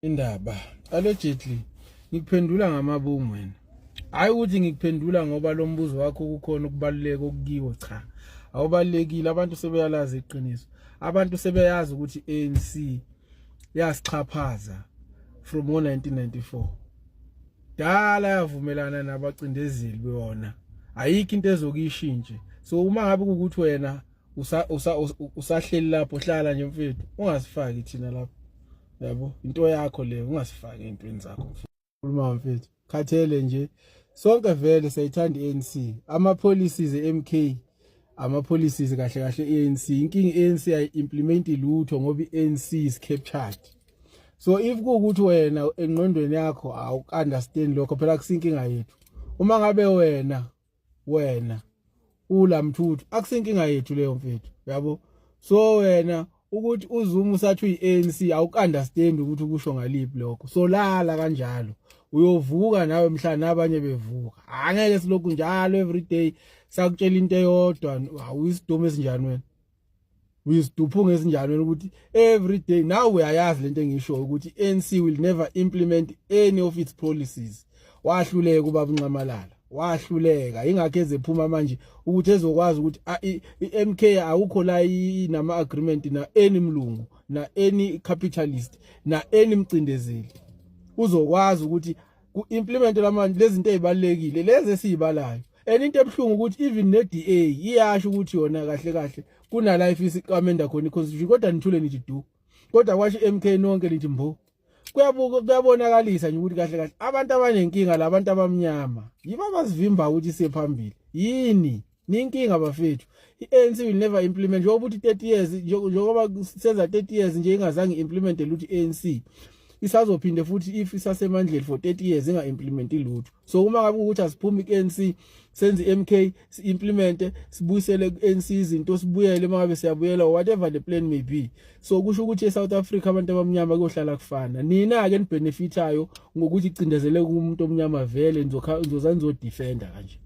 indaba allegedly ngikuphendula ngamabomu wena hayi ukuthi ngikuphendula ngoba lo mbuzo wakho kukhona ukubaluleka okukiwo cha awubalekile abantu sebeyalazi iqiniso abantu sebeyazi ukuthi ANC yasixhaphaza from 1994 dala yavumelana nabacindezeli bewona ayikho into ezokishintshe so uma ngabe ukuthi wena usa usa usahleli lapho hlala nje mfethu ungasifaki thina lapho yabo into yakho le ungasifaki intweni zakho khuluma mfethu khathele nje sonke vele sayithanda ANC ama policies eMK ama policies kahle kahle ANC inkingi ANC ay implement lutho ngoba iANC is captured so if kuukuthi wena engqondweni yakho awukunderstand lokho phela kusinkinga yethu uma ngabe wena wena ula mthuthu akusinkinga yethu leyo mfethu yabo so wena ukuthi uZuma usathi uyiANC awukunderstand ukuthi ukusho ngaliphi lokho solala kanjalo uyovuka nawe mhla nabanye bevuka angeke silokhu njalo everyday sakutshela into eyodwa awuyisidomo esinjani wena uyiziduphunga ezinjalweni ukuthi every day now uyayazi lento engisho ukuthi ANC will never implement any of its policies wahluleka ubaba unxamalala wahluleka ingakho ezephuma manje ukuthi ezokwazi ukuthi iMK awukho la inama agreement na any mlungu na any capitalist na any mcindezeli uzokwazi ukuthi ku implement lamanje lezinto ezibalekile lezi esizibalayo and into ebuhlungu ukuthi even ne-DA iyasho ukuthi yona kahle kahle kunala ifisa iqamenda khona iconstitution kodwa nithule nithi du kodwa kwasho i-MK nonke nithi mbo kuyabuka kuyabonakalisa nje ukuthi kahle kahle abantu abanenkinga labantu abamnyama yibo abasivimba ukuthi siye phambili yini ninkinga bafethu i-ANC will never implement njengoba uthi 30 years njengoba senza 30 years nje ingazange implement lutho i-ANC isazophinde futhi if isasemandleni for 30 years inga implement lutho so uma ngabe ukuthi asiphumi ku-ANC senze i-MK si-implemente sibuyisele ku-ANC izinto sibuyele uma ngabe siyabuyela or whatever the plan may be so kusho ukuthi e-South Africa abantu abamnyama kuyohlala kufana nina-ke nibenefithayo ngokuthi cindezele kumuntu omnyama vele nizoza nizodefenda kanje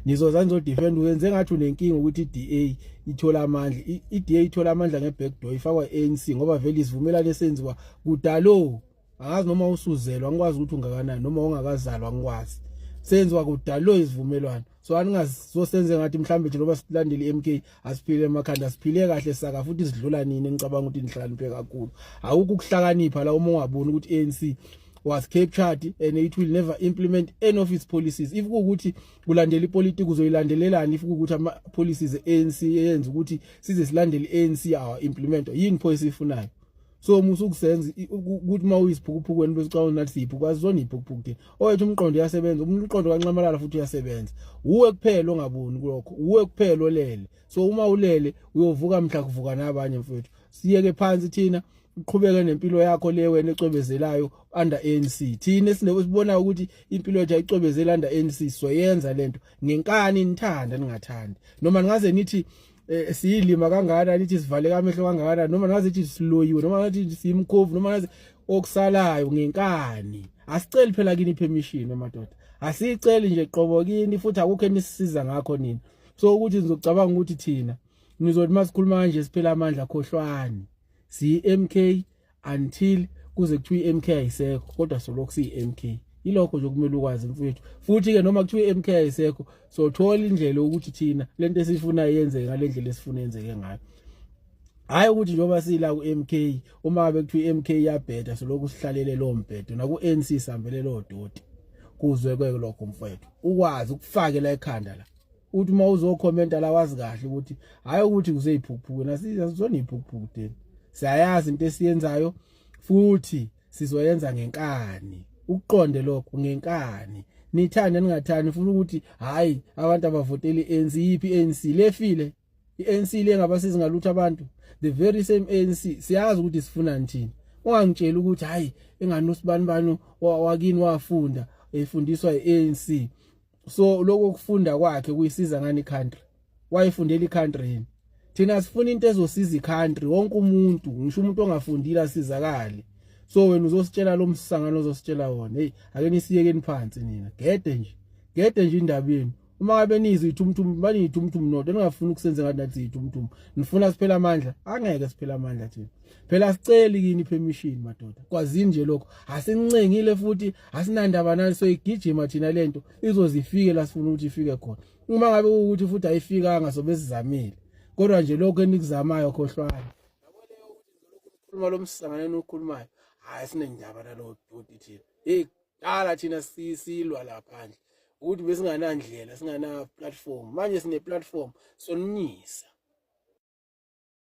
nizoza nizodefenda uyenze ngathi unenkinga ukuthi i-DA ithola amandla i-DA ithola amandla nge-backdoor ifakwa i-ANC ngoba vele isivumelane esenziwa kudalo angazi noma usuzelwa ngikwazi ukuthi ungakanani noma ungakazalwa ngikwazi senziwa kudalo isivumelwano so aningazosenze ngathi mhlawumbe nje loba silandele i-mk asiphile emakhanda asiphile kahle saka futhi sidlula nini engicabanga ukuthi nihlakaniphe kakhulu awukho ukuhlakanipha la uma ungaboni ukuthi i-anc was captured and it will never implement any of its policies if kuwukuthi kulandela ipolitiki uzoyilandelelani if kuwukuthi ama-policies e-anc eyenza ukuthi size silandele i-anc awa implemento yini pho esiyifunayo so musa ukusenza ukuthi uma uyisiphukuphukwenu besicabanga nathi siyiphukuphuku azizona iyiphukuphuku thina owethu umqondo uyasebenza umqondo kanxamalala futhi uyasebenza wuwe kuphela ongaboni kulokho wuwe kuphela olele so uma ulele uyovuka mhla kuvuka nabanye mfethu siyeke phansi thina uqhubeke nempilo yakho le wena ecwebezelayo under ANC thina esibona ukuthi impilo yethu ayicwebezela under ANC soyenza lento ngenkani nithanda ningathandi noma ningaze nithi eh, siyilima kangana nithi sivaleka amehlo kangana noma nazi thi siloyiwe noma nathi simkhovu noma nazi okusalayo ngenkani asiceli phela kini permission amadoda asiceli nje qobo kini futhi akukho enisiza ngakho nini so ukuthi nizocabanga ukuthi thina nizothi masikhuluma kanje siphela amandla khohlwani si MK until kuze kuthiwa iMK ayisekho kodwa solokhu siyiMK ilokho nje kumele ukwazi mfowethu futhi ke noma kuthiwa iMK ayisekho so thola indlela ukuthi thina lento esifuna yenzeke ngalendlela esifuna yenzeke ngayo hayi ukuthi njengoba sila kuMK uma bekuthiwa iMK yabheda solokhu sihlalele lo mbhedo naku ANC sambele lo doti kuzwe kweke lokho mfowethu ukwazi ukufakela ekhanda la uthi uma uzokhomenta la wazi kahle ukuthi hhayi ukuthi kuseyiphukuphuku nasizona iyiphukuphuku deni siyayazi into esiyenzayo futhi sizoyenza ngenkani ukuqonde lokho ngenkani nithanda ningathani funa ukuthi hayi abantu abavoteli ANC yipi ANC lefile iANC lengabasizi ngalutho abantu the very same ANC siyazi ukuthi sifuna nithini ungangitshela ukuthi hayi engani usibani bani wakini wafunda efundiswa iANC so lokho kufunda kwakhe kuyisiza ngani country wayefundela icountry yini thina sifuna into ezosiza icountry wonke umuntu ngisho umuntu ongafundile asizakale so wena uzositshela lo msangano ozositshela wona hey ake nisiyekeni phansi nina gede nje gede nje indaba yenu uma ngabe nizwe ithumthum baniyithumthum nodo ningafuni ukusenza ngathi nathi ithumthum nifuna siphela amandla angeke siphela amandla thina phela asiceli kini permission madoda kwazini nje lokho asincengile futhi asinandaba nani so igijima thina lento izozifike la sifuna ukuthi ifike khona uma ngabe ukuthi futhi ayifikanga sobe sizamile kodwa nje lokho enikuzamayo khohlwani uma lo msangane nokhulumayo hayi sinendaba nalo duty thina hey dala thina sisilwa la phandle ukuthi besinganandlela singana platform manje sine platform sonimisa